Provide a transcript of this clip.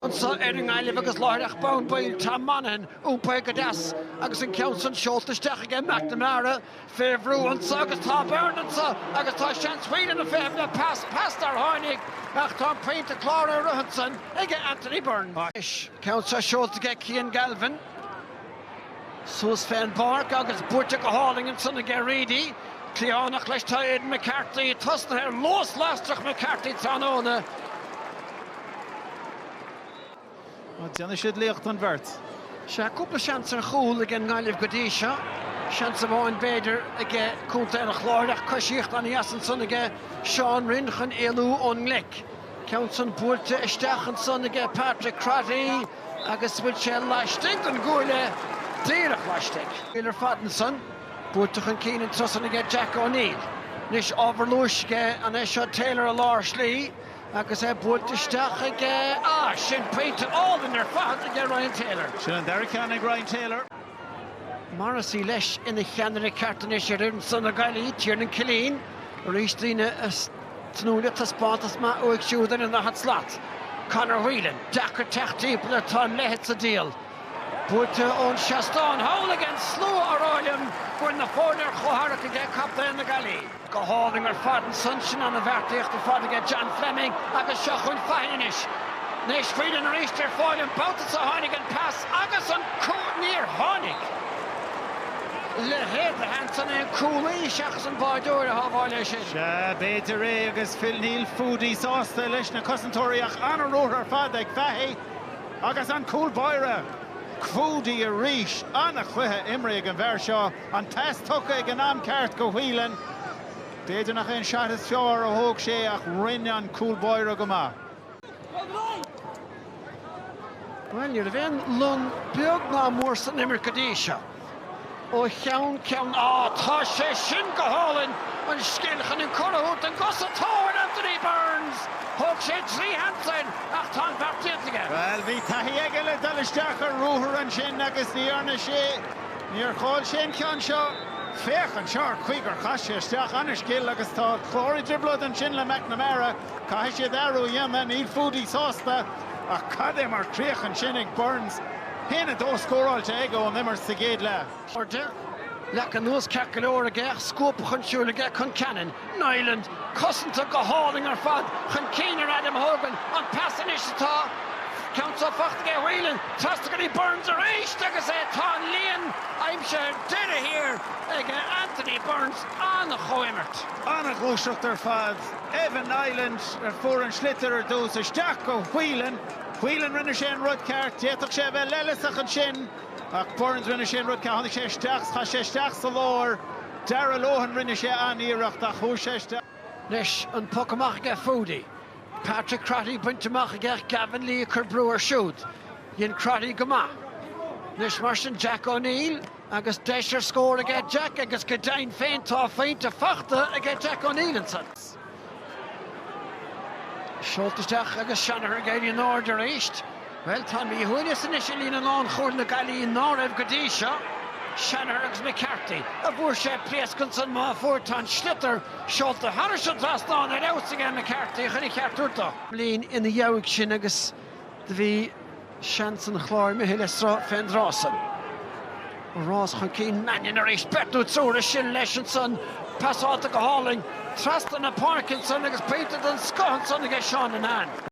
anso ar an nGaillimh agus láithreach bonn baill Tom Monaghan iompaithe go deas agus an ceann san seolta isteach aige McNamara fé bhrú anso agus tá Burns anso agus tá seans, Whelan ag feitheamh le pas nár tháinig ach tá an poinnte cláraithe ansan aige Anthony Burns. An ceann so seolta aige Cian Galvin. Suas fén bpáirc agus buaite go hálainn ansan aige Reidy. Cliathánach leis tá Aidan McCarthy tosnaithe ar luas lasrach McCarthy tráthnóna. Má déanann siad liacht an bheirt. Sea, cúpla seans ar chúl ag an nGaillimh go dtí seo. Seans amháin, b'fhéidir, aige Contae an Chláir ach coisíocht ana dheas ansan aige Seán Rynne chun éalú ón ngleic. Ceann san buailte isteach ansan aige Patrick Crotty agus bhfuil sé laistigh den gcuaille, díreach laistigh. Níl ar fad ansan. Buailte chun cinn an turas san aige Jack O'Neill. Anois ábhar luais aige an é seo Taylor i lár slí agus é buailte isteach aige, ah sin pointe álainn ar fad aige Ryan Taylor. Sin an dara ceann ag Ryan Taylor. Morrissey leis ina cheannaire ceart anois ar fhoireann san na Gaillimhí, Tiernan Killeen, arís daoine ag tnúth le taispeántas maith uaidh siúd ar an daichead slat. Conor Whelan, deacair teacht timpeall air, tá an leithead sa diabhal. Buaite ón seastán thall aige an slua ag rá liom go bhfuil na foirne ar chomhtharrac aige captaen na Gaillimhe. Go hálainn ar fad ansan sin ana bheartaíocht ar fad aige John Fleming agus seo chun Fahy anois. Anois Whelan arís ar fáil an babhta seo tháinig an pas agus an cúl níor tháinig le héacht ansan an cúlaí seachas an báireoir a shábháil é sin. Sea, b'fhéidir é agus bhuel níl Foudy sásta leis na cosantóirí ach ana ruathar ar fad ag Fahy agus an cúl báire Foudy arís. Ana chluiche imrithe ag an bhfear seo. An pas tugtha ag an am ceart go Whelan. B'fhéidir nach é an seat is fearr a thóg sé ach rinne an cúl báire go maith. Bhuel, ní raibh aon long beag ná mór san imirt go dtí seo. Ó cheann ceann, á, tá sé sin go hálainn! An scil chun an cor a thabhairt don gcosantóir, Anthony Burns! Thóg sé trí sheans ach tá an bheart déanta aige. Bhuel, bhí taithí aige le dul isteach ar ruathar ansin agus ní dhearna sé. Níor chaill sé an ceann seo. Féach anseo an chaoi gur chas sé isteach an-scil agus tá an Clár i dtrioblóid ansin le McNamara. Caithfidh siad athrú a dhéanamh. Níl Foudy sásta. Ach cad é mar chríoch ansin ag Burns. 1, 2 scóráilte aige ón imirt sa gcéad leath. Airde, leagtha anuas, ceart go leor aige ach scuabtha chun siúil aige, Concannon. Niland, cosanta go hálainn ar fad chun cinn ar Adam Hogan. An pas anois atá ceann so fachta aige Whelan. Trasna go dtí Burns arís agus é tá an líon aimsithe ar deireadh thiar ag Anthony Burns. An-chomhimirt. An-ghluaiseacht ar fad. Evan Niland a fuair an sliotar ar dtús. Isteach go Whelan. Whelan rinne sé an rud ceart. D'fhéadfadh sé a bheith leithleasach ansin. Ach Burns rinne sé an rud ceart, tháinig sé isteach, chaith sé isteach sa lár. Darragh Lohan rinne sé an-iarracht ach chuaigh sé isteach. Anois an poc amach aige Foudy, Patrick Crotty bainte amach aige Gavin Lee ag cur brú air siúd. Dhein Crotty go maith. Anois mar sin Jack O'Neill agus deis ar scór aige Jack agus go deimhin féin tá a phointe fachta aige Jack O'Neill ansan. Seolta isteach agus Shanagher ag éirí in airde arís. Bhuel, tá míshuaimhneas anois i líne lánchúil na Gaillimhe ná raibh go dtí seo. Shanagher agus McCarthy, an bhfuair sé pléasc ansan má fuair, tá an sliotar seolta thairis an trasnán ar fheabhas aige McCarthy chun a cheart a thabhairt dó. Lean ina dheabhaidh sin agus do bhí. Seans an Chláir imithe le sruth fén dtráth san. An rás chun cinn, Mannion arís, beirt nó triúr ansin leis ansan. Pasáilte go hálainn trasna na páirce ansan agus pointe den scoth ansan aige Seán Linnane.